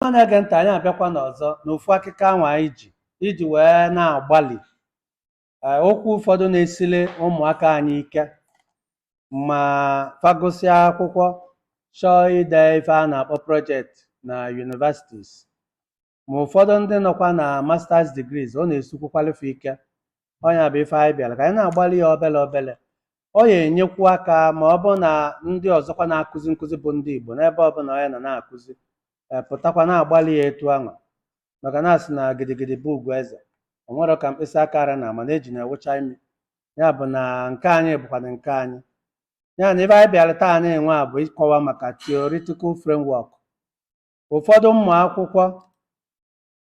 ọma na-ege ntị anyị abịakwana ọzọ n'ofu akụkọ anwa anyị ji iji wee na-agbalị ee, okwu ụfọdụ na-esili ụmụaka anyị ike ma fa gụsịa akwụkwọ chọọ ide ife a na-akpọ project na universities ma ụfọdụ ndị nọkwa na masters degrees ọ na-esikwukwali fa ike ọ nya bụ ife anyị bịara ka anyị na-agbalị ya obele obele ọ ya-enyekwu aka ma ọ bụ na ndị ọzọkwa na-akụzi nkụzi bụ ndị Igbo n'ebe ọbụla onye nọ na-akụzi ee, pụtakwa na-agbalị ya etu anwa maka na a sị na gidigidi bụ ugwu eze o nwerọ ka mkpịsị aka ra na ama na eji na-ewụcha imi ya bụ na nke anyị bụkwana nke anyị ya na ife anyị bịara taa nwa bụ ịkọwa maka theoretical framework ụfọdụ ụmụ akwụkwọ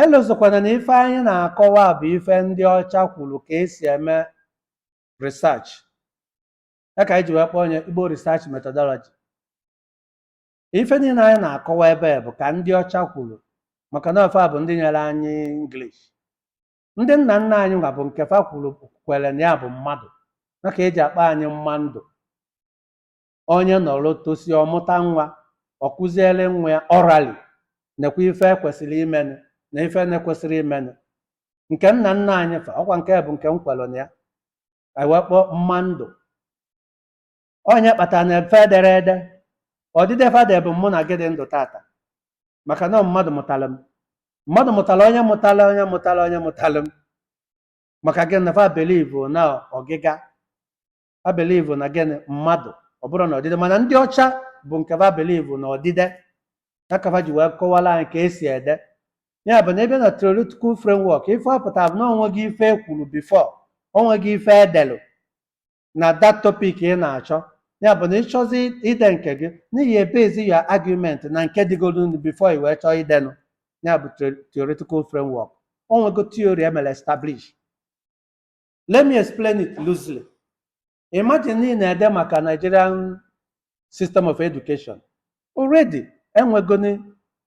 elozokwana na ife anyị na-akọwa bụ ife ndị ọcha kwuru ka e si eme research ya ka anyị ji wee kpọọ nya igbo research methodology ife niile anyị na-akọwa ebe a bụ ka ndị ọcha kwuru maka na ọ fa bụ ndị nyere anyị english ndị nna nna anyị nwa bụ nke fa kwuru kwere na ya bụ mmadụ nya ka e ji akpọ anyị mma ndụ onye nọrọ tosia ọ mụta nwa ọ kuziere nwa ya orally nekwa ife e kwesịrị imenụ na ife na-ekwesịrọ imenụ nke nna nna anyị fa ọkwa nke bụ nke m kwelụ na ya anyị wee kpọọ mma ndụ ọ nya kpatara na fa ederọ ede odide fa de bụ mụ na gị dị ndụ tata maka na ọ mmadụ mụtara m mmadụ mụtara onye mụtara onye mụtara onye mụtara m maka gịnị fa believe na ọgịga fa believe na gịnị mmadụ ọ bụrọ na odide mana ndị ọcha bụ nke fa believe na odide ya ka fa ji wee kọwara anyị ka e si ede ya bụ na ebe na theoretical framework ife ọ pụtara bụ na o nwego ife e kwuru before o nwego ife e delu na that topic ị na-achọ ya bụ na ị chọzi ide nke gị na ị ya-ebase your argument na nke dịgoro before i wee chọọ idenụ ya bụ theoretical framework o nwego theory e mere establish let me explain it loosely imagine na ị na-ede maka nigerian system of education already enwegoni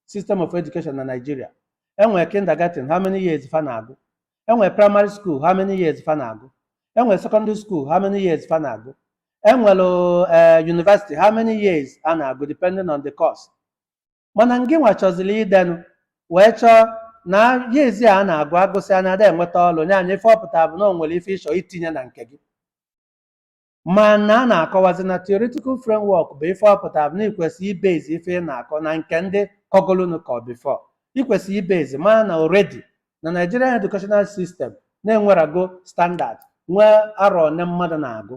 system of education na nigeria enwere kindergarten how many years fa na-agụ enwere primary school how many years fa na-agụ enwere secondary school how many years fa na-agụ enwere eh, university how many years a na-agụ depending on the course mana ngịnwa chọziri idenụ wee chọọ na years a na-agụ a gụsịa na a da enweta ọlụ na nya ife ọ pụtara bụ na o nwere ife ị chọ itinye na nke gị mana a na-akọwazi na theoretical framework bụ ife ọ pụtara bụ na i kwesị ịbase ife ị na-akọ na nke ndị kọgolunu ka before i kwesị ibuzọ mara na already na Nigerian educational system na e nwerago standard nwee arọ one mmadụ na-agụ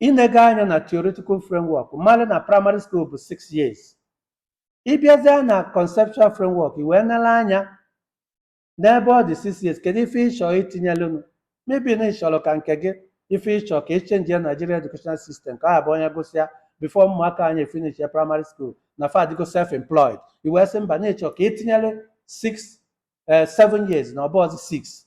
i nega anya na theoretical framework marụ na primary school bụ 6 years ịbịazie na conceptual framework i wee nele anya n'ebe ọ dị 6 years kedu ife ịchọ itinyelunu maybe na ịchọrọ ka nke gị ife ịchọ ka echenji ya Nigeria educational system ka ọ bụ onye gụsịa before ụmụaka anyị finish ya primary school na fa adịgo self employed i wee sị mba na ịchọ ka etinyere 6 7 years na ọ bụrọzị 6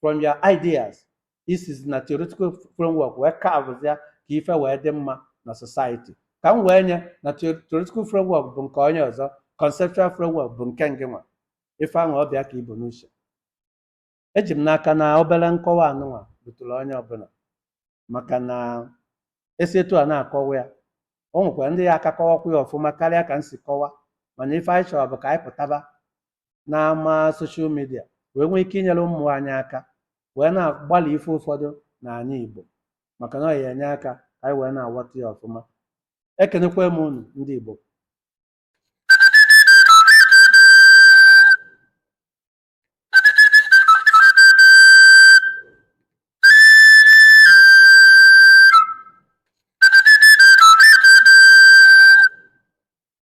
from your ideas isizi na theoretical framework wee carve ya ka ife wee dị mma na society ka m wee nye na theo- theoretical framework bụ nke onye ọzọ conceptual framework bụ nke ngị nwa ife ahụ ọ bụ ya ka i bu n'uche eji m n'aka na obere nkọwa anụnwa rutụrụ onye ọbụla maka na esi etu a na-akọwa ya o nwekwara ndị ya aka kọwakwa ya ọfụma karịa ka m si kọwa mana ife anyị chọrọ bụ ka anyị pụtaba n'ama soshal midia wee nwee ike inyere ụmụ anyị aka wee na-agbalị ife ụfọdụ n'anị Igbo maka na ọ ya enye aka ka anyị wee na-aghọta ya ọfụma ekenekwa m unu ndị Igbo